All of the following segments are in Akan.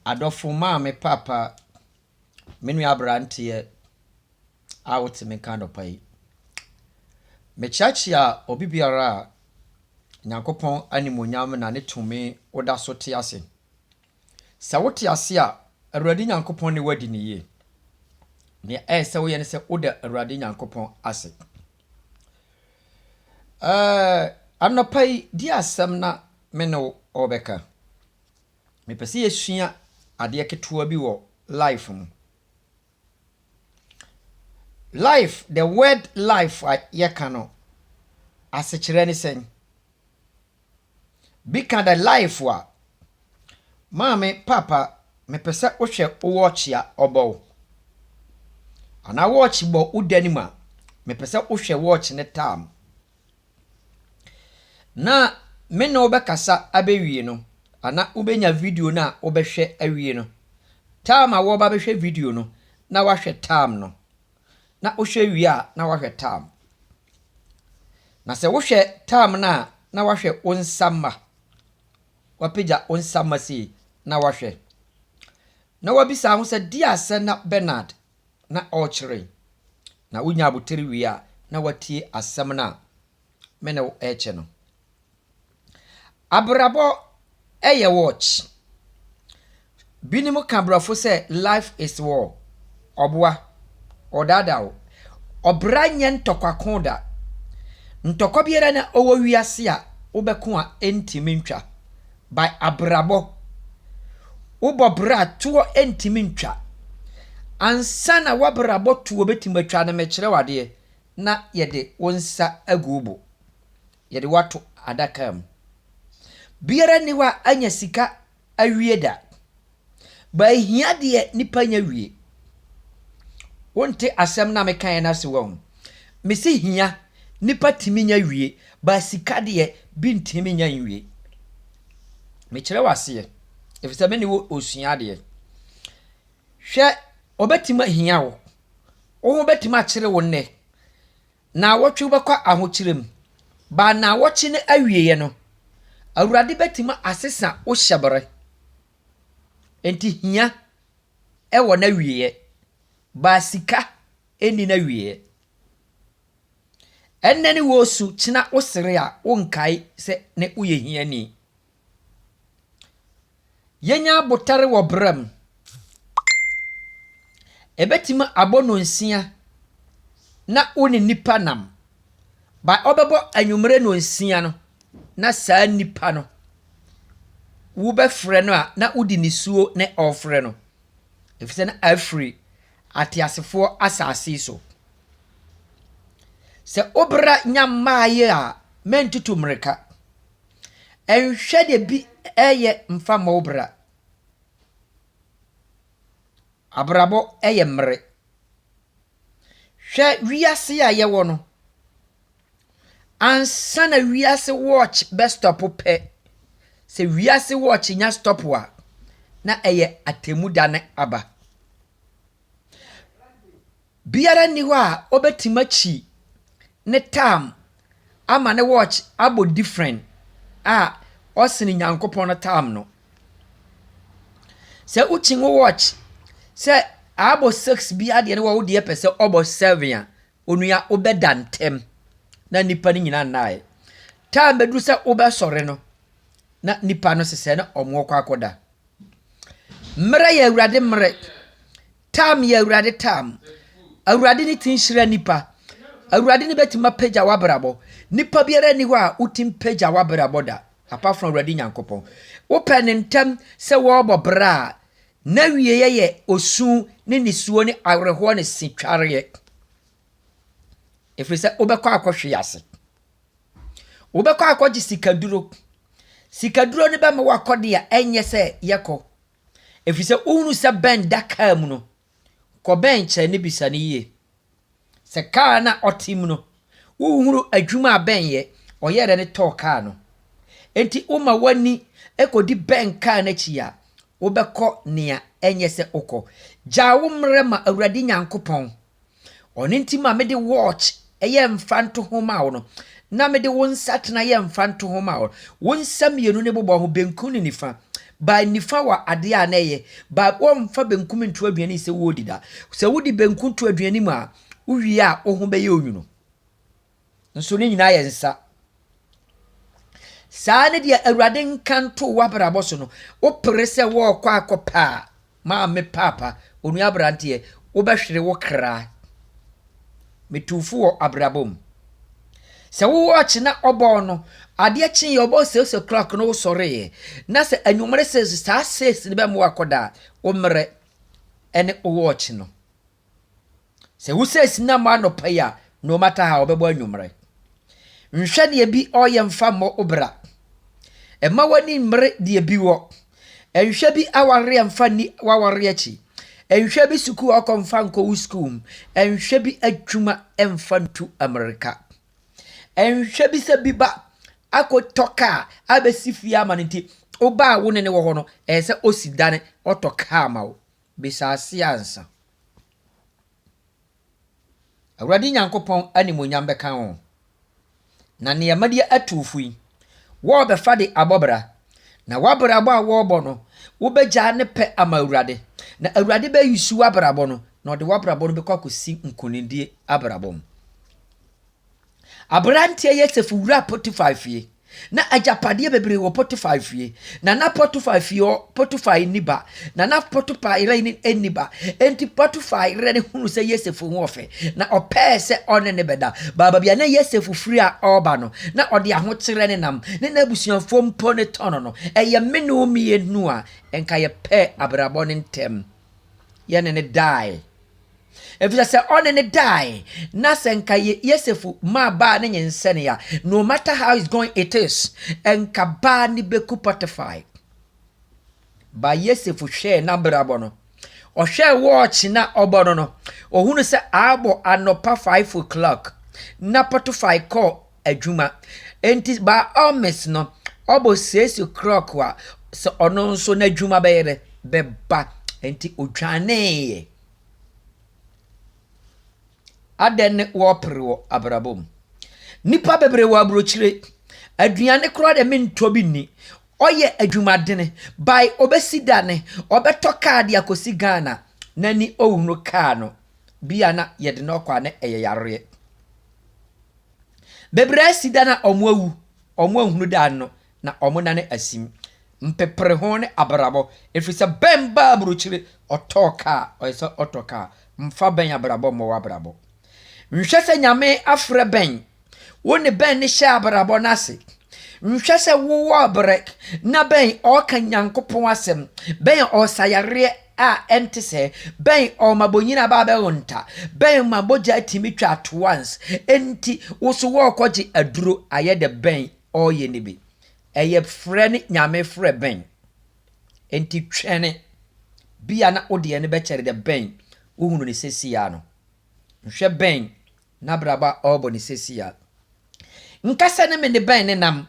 Adɔfo, Maame, Paapa, me nua aberanteɛ a wote me nka anɔpa yi, mekyeakyea obi biara a Nyankopɔn animuonyam na ne tumi woda so te ase. Sɛ wote ase a, Awurade Nyankopɔn ne woadi no yie. Nea ɛyɛ sɛ woyɛ ne sɛ woda Awurade Nyankopɔn ase. Ɛɛ, anɔpa yi, di asɛm na me ne wo ɔbɛka. Mepɛ sɛ yɛsua adeɛ ketewa bi wɔ life mu. Life, the word life a yɛka no, asekyerɛ ne sɛn? Bi ka the life a, maame, papa, mepɛ sɛ wohwɛ wo wɔɔkye a ɔbɔ wo. Anaa wɔɔkye bɔ wo da no mu a, mepɛ sɛ wohwɛ wɔɔkye no time. Na me ne wo bɛkasa abɛwie no, anaa wobɛnya video no a wobɛhwɛ awie no, time a wɔba bɛhwɛ video no, na wahwɛ time no. Na wohwɛ wie a, na wahwɛ time. Na sɛ wohwɛ time no a, na wahwɛ wo nsa mma. Wapagya wo nsa mma sei, na wahwɛ. Na wabisa ho sɛ, Dear Sena Bernard, na ɔrekyere, na wonya abotiri wie a, na watie asɛm no a me ne wo rekyɛ no. Abrabɔ yɛ watch. Binom ka borɔfo sɛ life is war. Ɔboa, ɔdaadaa wo. Ɔbra nyɛ ntɔkwa ko da. Ntɔkwa biara na ɔwɔ wiase a wobɛko a ɛntumi ntwa. by abrabɔ wobɔ bra toɔ ntimi ntwa ansa na wabrabɔ toɔ bɛtimi atwa no mekyerɛ wo adeɛ na yɛde wo nsa agu wo bo yɛde wo ato adaka mu biara nni hɔ a anya sika awie da But ehia deɛ nipa nya wie. Wonte asɛm no a mekaeɛ no ase wahu. Mese hia, nipa tumi nya wie, but sika deɛ bi ntumi nya nwie. Mekyerɛ wo aseɛ, efisɛ me ne wo osua adeɛ. Hwɛ, wɔbɛtumi ahia wo, wo ho bɛtumi akyere wo nnɛ. Naawɔtwe wobɛkɔ ahokyerɛ mu, baa naawɔtwe no awieɛ no, Awurade bɛtumi asesa wo hyɛberɛ. Enti hia wɔ n'awieɛ, baa sika nni n'awieɛ. Ɛnnɛ ne wɔresu, kyena wosere a wonkae sɛ ne woyɛ hiani. Yenya abotar wɔ bra mu. Ebetumi abɔ nnɔnsia na wo ne nipa nam. But ɔbɛbɔ anwumerɛ nnɔnsia no na saa nipa no wobɛfrɛ no a na wode nisuo na ɔrefrɛ no. Efisɛ na afiri ateasefoɔ asase so. Sɛ wo bra nya mmaeɛ a, mɛntutu mmirika. Nhwɛ deɛ bi reyɛ mfa mmɔ wo bra. Abrabɔ yɛ mmere. Hwɛ wiase a yɛwɔ no. Ansa na wiase watch bɛ stop pɛ, sɛ wiase watch nya stop a, na ɛyɛ atemmuda no aba. Biara nni hɔ a ɔbɛtim akyi ne tam ama ne watch abɔ different a ɔsene Nyankopɔn no tam no. Sɛ wokyi wo watch sɛ aabɔ six biara deɛ ne wɔ wo deɛ pɛsɛ ɔbɔ seven a, onua wobɛda ntɛm na nnipa no nyina nnaɛ. Tam bɛduru sɛ wobɛsɔre no na nnipa no sesɛɛ na ɔmo kɔ akɔda. Mmerɛ yɛ Awurade mmerɛ, Taa me, Awurade, taa me. Awurade ne tumi hyira nnipa. Awurade ne bɛtumi apagya w'abrabɔ. Nnipa biara nni hɔ a wotumi pagya w'abrabɔ da, apart from Awurade Nyankopɔn. Wopɛ ne ntɛm sɛ wɔrebɔ bra a, n'awieɛ yɛ osu ne nisuo ne awerɛhoɔ ne setwareɛ. Ɛfiri sɛ wobɛkɔ akɔhwe ase. Wobɛkɔ akɔgye sikaduro. Sikaduro no bɛma wakɔ deɛ ɛnyɛ sɛ yɛkɔ. ɛfiri sɛ wohunu sɛ Ben da kaa mu no, kɔ Ben kyerɛ no bisa no yie. Sɛ kaa no a ɔte mu no, wohunu adwuma a Ben yɛ, ɔyɛɛ dɛn de tɔɔ kaa no. Enti woma w'ani kɔdi Ben kaa no akyi a, wobɛkɔ nea ɛnyɛ sɛ wokɔ. Gyaa wo mmerɛ ma Awurade Nyankopɔn. Ɔno nti ma me de watch yɛ mfantoho ma wo no, na me de wo nsatena yɛ mfantoho ma wo. Wo nsa mmienu no bobɔ ho, benkum ne nifa. By nifa wɔ adeɛ a na ɛyɛ, by wɔmfa benkum nto aduane sɛ wɔredi da. Sɛ wode benkum to aduane mu a, wowie a wo ho bɛyɛ onwunu. nso ne nyinaa yɛ nsa. Saa ne deɛ Awurade nka nto w'abrabɔ so no, wopere sɛ wɔrekɔ akɔpɛ a, maame paapa, onua aberanteɛ, wobɛhwere wo kra. Metu fo wɔ abrabɔ mu. Sɛ wo wɔɔkye na ɔbɔɔ no, adeɛ kyeeɛ ɔbɔɔ six o'clock no wosɔreeɛ, na sɛ anwummere six, saa six no bɛmmoa akɔda a, wo mmerɛ ne wo wɔɔkye no. Sɛ wosɛ sina mɔ anɔpa yi a no matter how ɔbɛbɔ anwumerɛ. Nhwɛ deɛ bi ɔɔyɛ mfa mmɔ wo bra. Mma w'ani mmere deɛ bi wɔ. Nhwɛ bi awareɛ mfa nni w'awareɛ akyi. Nhwɛ bi sukuu a ɔkɔ mfa nkɔ wo sukuu mu. Nhwɛ bi adwuma mfa ntu mmirika. Nhwɛ bi sɛ bi ba akɔtɔ kaa abɛsi fie ama no nti wo ba a wo ne no wɔ hɔ no ɛsɛ sɛ ɔsi dane ɔtɔ kaa ma wo. Bisa ase ansa. Awurade Nyankopɔn animuonyam bɛka wo, na nneɛma bi atu wo fo yi, worebɛfa de abɔ bra, na w'abrabɔ a worebɔ no, wobɛgyaa ne pɛ ama Awurade, na Awurade bɛyusu w'abrabɔ no, na ɔde w'abrabɔ no bɛkɔ akɔsi nkonimdie abrabɔ mu. Aberanteɛ Yosef wuraa Potifar fie. Ná agyapadeɛ bebree wɔ Potifar fie, na na Potifar fie hɔ Potifar nni ba, na na Potifar yere nni ba. Enti Potifar yere no hunuu sɛ Yosef ho wɔ fɛ, na ɔpɛɛ sɛ ɔne no bɛda. Baabi a na Yosef firi a ɔreba no, na ɔde ahokyerɛ nenam, ne n'abusuafoɔ mpo ne tɔn no. Ɛyɛ me ne wo mmienu a, nka yɛpɛɛ abrabɔ no ntɛm. yɛne no dae. Efisɛ sɛ ɔne no dae, na sɛ nka Yosef maa baa no nyinsɛnee a, no matter how it's going it is, nka baa no beku Potiphar. Ba Yosef hwɛɛ n'abrabɔ no. Ɔhwɛɛ wɔɔkye na ɔbɔ no no, ohunu sɛ abɔ anɔpa five o'clock na Potiphar kɔɔ adwuma. Enti by all means no ɔbɔ siesie krɔk a sɛ ɔno nso n'adwuma bɛyɛ dɛ bɛba. Enti odwaneeɛ. Adɛn ne wɔpere wɔ abrabɔ mu? Nnipa bebree wɔ aburokyire. Aduane koraa deɛ mentɔ bi nni. Ɔyɛ adwumadene by ɔbɛsi dane, ɔbɛtɔ kaa de akɔsi Ghana. N'ani ɔhunu kaa no, bi a na yɛde no kɔ a na ɛyɛ yareɛ. Bebree si dan a wɔawu, wɔanhunu dan no, na wɔnane asim. Mpepere ho ne abrabɔ, ɛfiri sɛ bɛn ba aburokyire ɔtɔɔ kaa, ɔyɛ sɛ ɔtɔ kaa, mfa bɛn abrabɔ mmɔ w'abrabɔ. Nhwɛ sɛ Nyame afrɛ bɛn, wo ne bɛn ne hyɛ abrabɔ no ase. Nhwɛ sɛ wowɔ berɛ na bɛn ɔɔka Nyankopɔn asɛm, bɛn ɔɔsa yareɛ, a ɛnte sɛ bɛn ɔma bonyin aba bɛwo nta bɛn ma mogya tumi twa at once enti wo so wɔrekɔgye aduro ayɛ dɛ bɛn ɔreyɛ no bi ɛyɛ frɛ ne nyame frɛ bɛn enti twɛne bia na wodeɛ no bɛkyɛre dɛ bɛn wohunu ne sɛsiaa no nhwɛ bɛn N'abrabɔ a ɔrebɔ no seesei a, nka sɛ ne mene bɛn ne nam.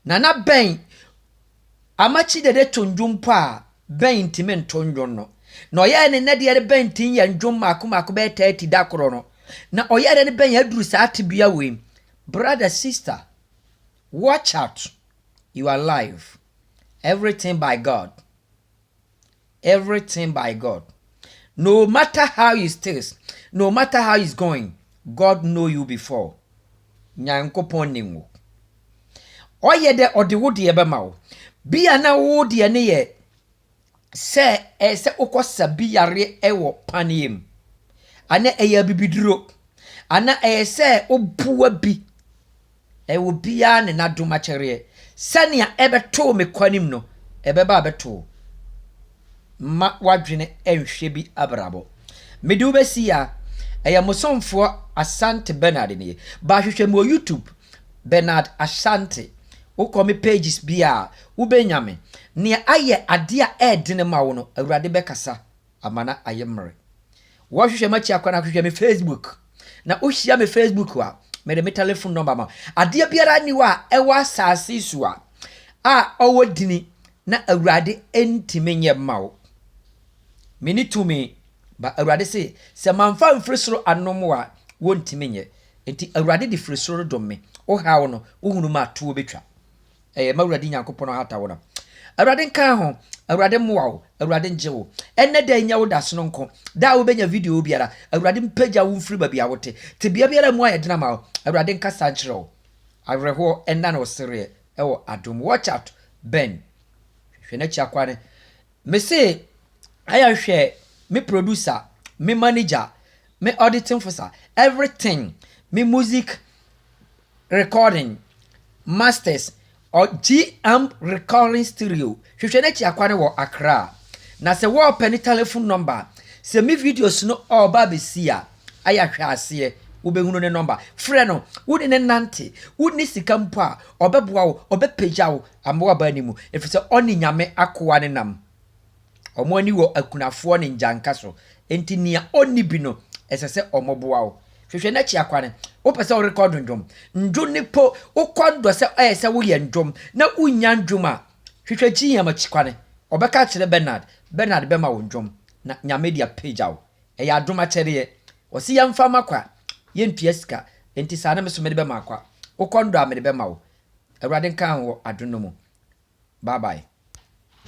Nana bɛn Amakye Dede to nnwom mpo a, bɛn ntumi nto nnwom no. Na ɔyɛɛ ne nnɛ deɛ no bɛn ntumi nyɛ nnwom mmaako mmaako bɛyɛ thirty da koro no. Na ɔyɛɛ dɛ no bɛn aduru saa tebea wei mu. Brother, sister, watch out, you are alive, everything by God. everything by God no matter how you stills no matter how is going God know you before Nyankopɔn nim wo ɔyɛ dɛ ɔde wo deɛ bɛma wo bi a na wo deɛ ne yɛ sɛ ɛyɛ sɛ wokɔsa bi yareɛ wɔ paneɛ mu ana ɛyɛ abibiduro ana ɛyɛ sɛ wobua bi Ɛyɛ obiara ne n'adom akyɛreɛ. Sɛnea ɛbɛtoo me kwanem no, ɛbɛba abɛto wo. Mma w'adwene nhwɛ bi abrabɔ. Mede wo bɛsi ya. Ɛyɛ mo somfoɔ Asante Bernard nie. Ba hwehwɛ me wɔ YouTube, Bernard Asante. Wokɔ me pages biara a, wobɛnya me. Nea ayɛ adeɛ a ɛyɛ dene ma wo no, Awurade bɛkasa. amana ayɛ mmere. Wɔhwehwɛ m'akyi akwan a, hwehwɛ me Facebook. Na wohyia me Facebook a, mede me telefon nɔmba ma. Adeɛ biara nni hɔ a ɛwɔ asase yi so a a ɔwɔ dini na Awurade ntumi nyɛ mma wo. Meni tumi, ba Awurade se, sɛ mamfa mfiri soro anom wo a, wontumi nyɛ. Enti Awurade de firi soro redom me. Wo haw no, wohunu m'atoɔ bɛtwa. Ɛyɛ ma Awurade Nyankopɔn ahata wo na Awurade nka ho, Awurade mmoa wo, Awurade ngye wo. Ɛnnɛ da yi nyɛ wo da sononko, da a wobɛnya video biara, Awurade mpagya wo mfiri baabi a wote. Tebea biara mu ayɛ den ama wo, Awurade nkasa nkyerɛ wo. Awerɛhoɔ nna na ɔsereɛ ɛwɔ adom. Watch out Ben hwɛ n'akyi akwa ne me se ayɛ nhwɛ me producer me manager me auditing fosa everything me music Recording, Masters, ɔ G-Amp Recording Studio, hwehwɛ n'akyi akwa no wɔ Accra. Na sɛ wɔ pɛ ne telefon nɔmba a, sɛ me videos no ɔ ba abɛsi a, ayɛ ahwɛaseɛ, wo bɛ hunu ne nɔmba. Frɛ no, wo ne no nante, wo nni sika mpo a, ɔ bɛ boa wo, ɔ bɛ pagya wo ama w'aba anim, ɛfiri sɛ ɔ ne Nyame akoa ne nam. Wɔn ani wɔ akunafoɔ ne ngyanka so, enti nea ɔnni bi no, ɛsɛ sɛ wɔboa wo. Hwehwɛ n'akyi akwan. Wopɛ sɛ worekɔ dwondwom? Ndwo ne po, wokɔ ndɔ sɛ ɛyɛ sɛ woyɛ ndwom na wonnya ndwom a, hwehwɛ GM akyi kwan. Wɔbɛka akyerɛ Bernard. Bernard bɛma wo ndwom, na Nyame de apagya wo. Ɛyɛ adom akyɛdeɛ. Wɔse yɛmfa ma kwa, yɛntua sika, enti saa na me nso mede bɛma kwa. Wokɔ ndɔ a, mede bɛma wo. Awurade nka wo ho wɔ adom no mu. Bye bye.